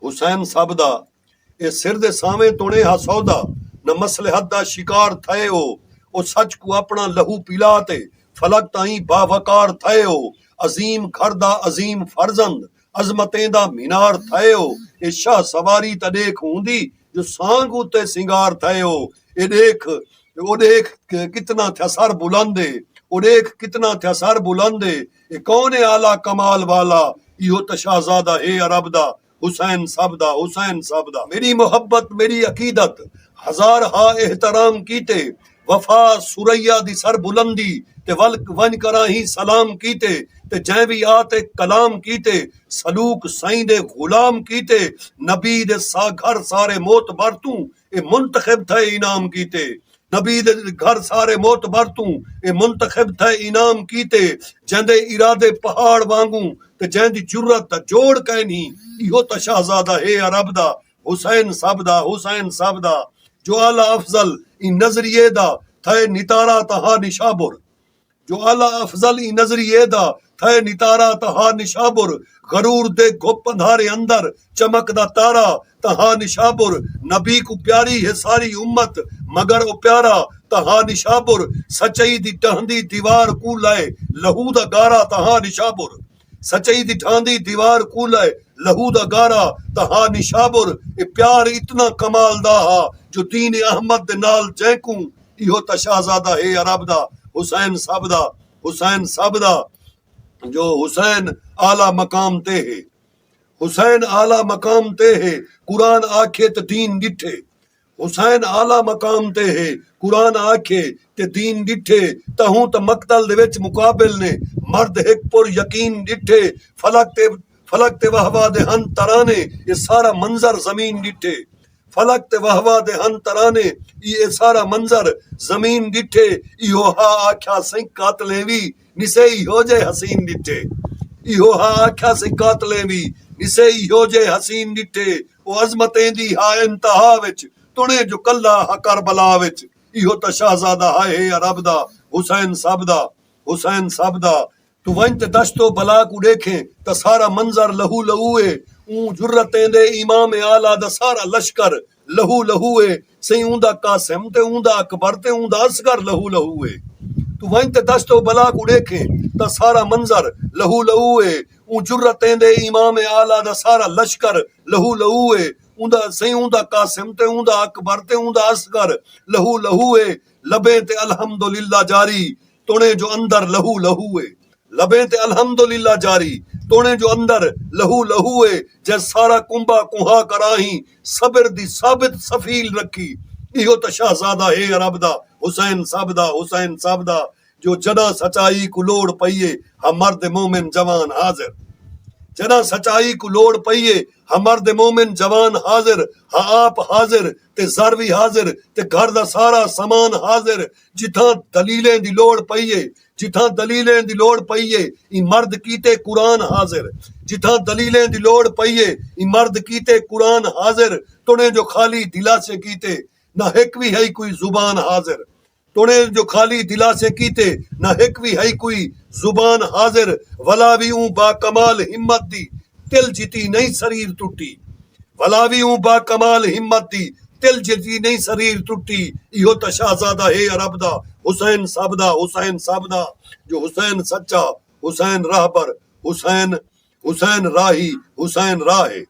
حسین سب دا اے سر دے سانویں تݨ اے ہا سودا نہ مصلحت دا شکار تھئے او او سچ کوں اپݨا لہو پلا تے فلک تائیں باوقار تھئے او عظیم گھر دا عظیم فرزند عظمتیں دا مینار تھئے او اے شاہ سواری تاں ݙیکھ ہوندی جو سانڳ اتے سنگار تھئے او اے ݙیکھ او ݙیکھ کتنا تھیا سر بلند اے او ݙیکھ کتنا تھیا سر بلند اے۔ اے کون ہے اعلی کمال والا ایہو تاں شہزادہ ہے عرب دا حسین سب دا حسین سب دا۔ میݙی محبت میݙی عقیدت ہزار ہا احترام کیتے وفا ثریا دی سر بلندی تے ول ونڄ کراہیں سلام کیتے تے جئیں وی آ تے کلام کیتے سلوک سئیں دے غلام کیتے نبی دے سا گھر سارے معتبر توں اے منتخب تھئے انعام کیتے۔ نبی دے گھر سارے معتبر توں اے منتخب تھئے انعام کیتے جیندے ارادے پہاڑ وانگوں تے جیندی جرات دا جوڑ کائنی ایہو تاں شہزادہ ہے عرب دا حسین سب دا حسین سب دا جو اعلی افضل ایں نظریے دا تھئے نتارا تاں ہا نشابر جو اعلی افضل ایں نظریے دا تھئے نتارا تاں ہا نشابر غرور دے گھپ اندھارے اندر چمک دا تارا تاں ہا نشابر نبی کوں پیاری ہے ساری امت مگر او پیارا تاں ہا نشابر سچائی دی ڈہندی دیوار کوں لائے لہو دا گارا تاں ہا نشابر۔ سچائی دی ڈھاندی دیوار کوں لائے لہو دا گارا تاں ہا نشابر اے پیار اتنا کمال دا ہا جو دین احمد دے نال جینکوں ایہو تاں شہزادہ ہے عرب دا حسین سب دا حسین سب دا جو حسین اعلی مقام تے ہے حسین اعلی مقام تے ہے قرآن آکھے تاں دین ڈٹھے۔ حسین اعلی مقام تے ہے قرآن آکھے تے دین ڈٹھے تہوں تاں مقتل دے وچ مقابل نے مرد ہک پر یقین ڈٹھے فلک تے فلک تے وہوا دے ہن ترانے اے سارا منظر زمین ڈٹھے فلک تے وہوا دے ہن ترانے ای اے سارا منظر زمین ڈٹھے ایہو ہا آکھیا سئیں قاتلیں وی نسے ایہو جئے حسین ݙٹھے ایہو ہا آکھیا سے قاتلیں وی نسے ایہو جئے حسین ݙٹھے او عظمت ایندی ہا انتہا وچ تݨیں جو کلھا ہا کربلا وچ ایہو تاں شہزادہ ہا ہے عرب دا حسین سب دا حسین سب دا۔ توں ونڄ تے دشت و بلا کوں ݙیکھیں تاں سارا منظر لہو لہو ہے اوں جرت ایندے امام اعلی دا سارا لشکر لہو لہو اے سئیں اوں دا قاسم تے اوں دا اکبر تے اوں دا اصغر لہو لہو اے توں ونج تے دشت و بلا کوں ڈیکھیں تاں سارا منظر لہو لہو اے اوں جرتیں دے امام اعلی دا سارا لشکر لہو لہو اے اوں دا سئیں اوں دا قاسم تے اوں دا اکبر تے اوں دا اصغر لہو لہو اے لبیں تے الحمدللہ جاری توݨیں جو اندر لہو لہو اے لبیں تے الحمد للہ جاری توݨیں جو اندر لہو لہو اے جئیں سارا کنبہ کنہا کراہیں صبر دی ثابت سفیل رکھی ݙیہو تاں شہزادہ ہے عرب دا حسین صاحب دا حسین صاحب دا جو جݙاں سچائی کوں لوڑ پئی اے ہاں مرد مومن جوان حاضر جݙاں سچائی کوں لوڑ پئی اے ہاں مرد مومن جوان حاضر ہاں آپ حاضر تے زر وی حاضر تے گھر دا سارا سامان حاضر جتھاں دلیلیں دی لوڑ پئی ہے جتھاں دلیلیں دی لوڑ پئی ہے ایں مرد کیتے قرآن حاضر جتھاں دلیلیں دی لوڑ پئی ہے ایں مرد کیتے قرآن حاضر تݨیں جو خالی دلاسے کیتے نہ ہک وی ہئی کوئی زبان حاضر تݨیں جو خالی دلاسے کیتے نہ ہک وی ہئی کوئی زبان حاضر ولا وی اوں باکمال ہمت دی تل جتی نئیں سریر ٹٹی ولا وی اوں باکمال ہمت دی تل جھتی نئیں سریر ٹٹی ایہو تاں شہزادہ ہے عرب دا حسین سب دا حسین سب دا جو حسین سچا حسین رہبر حسین حسین راہی حسین راہ ہے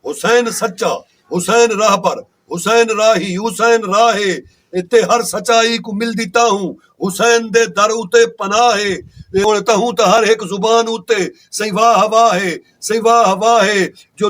حسین سچا حسین رہبر حسین راہی حسین راہ ہے اتے ہر سچائی کوں ملدی تاہوں حسین دے در اتے پناہ ہے ہن تہوں تاں ہر ہک زبان اتے سئیں واہ واہ ہے سئیں واہ واہ ہے جو